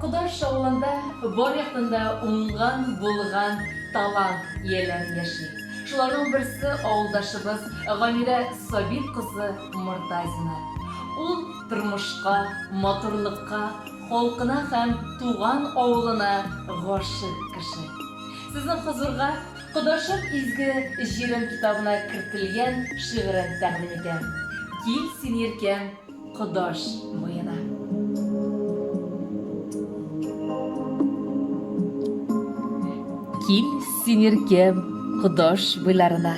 Кодар шавында бар яктында уңган, булган талант ияләре яши. Шуларның берсе авылдашыбыз Гамирә Сабит кызы Мортазина. Ул тормышка, матурлыкка, халкына һәм туган авылына гашыйк кеше. Сезнең хозурга Кодашым изге җирем китабына кертелгән шигырен тәкъдим итәм. Кил син иркәм Кодаш буена. Кил син иркәм Кодаш буйларына.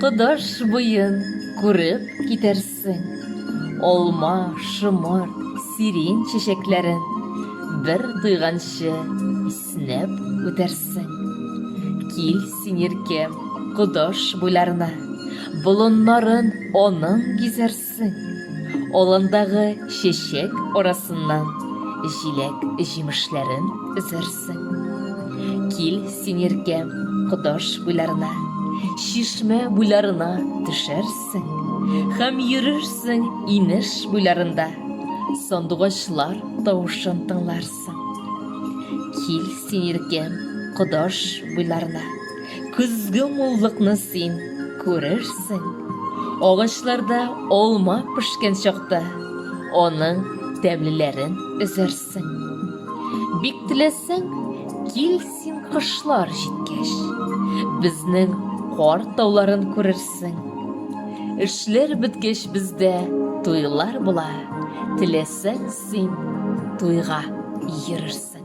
Кодаш буен күреп китәрсең. Алма, шомырт, сирень чәчәкләрен бер тойганчы исеңә төшәр. Снәп үтәрсең. Кил син, иркем, Кодаш буйларына, Болыннарын аның гизәрсең. Аландагы чәчәк арасыннан Җиләк җимешләрен өзәрсең. Кил син, иркем, Кодаш буйларына, Чишмә буйларына төшәрсең. Хәм йөрерсең инеш буйларында, Сандугачлар тавышын тыңларсың. Кил син иркем Кодаш буйларына, Көзге муллыкны син күрерсең. Агачларда алма пешкән чакта, Аның тәмлеләрен өзәрсең. Бик теләсәң, кил син кышлар җиткәч, Безнең кар тауларын күрерсең. Эшләр беткәч бездә туйлар була, Теләсәң Син туйга йөрерсең.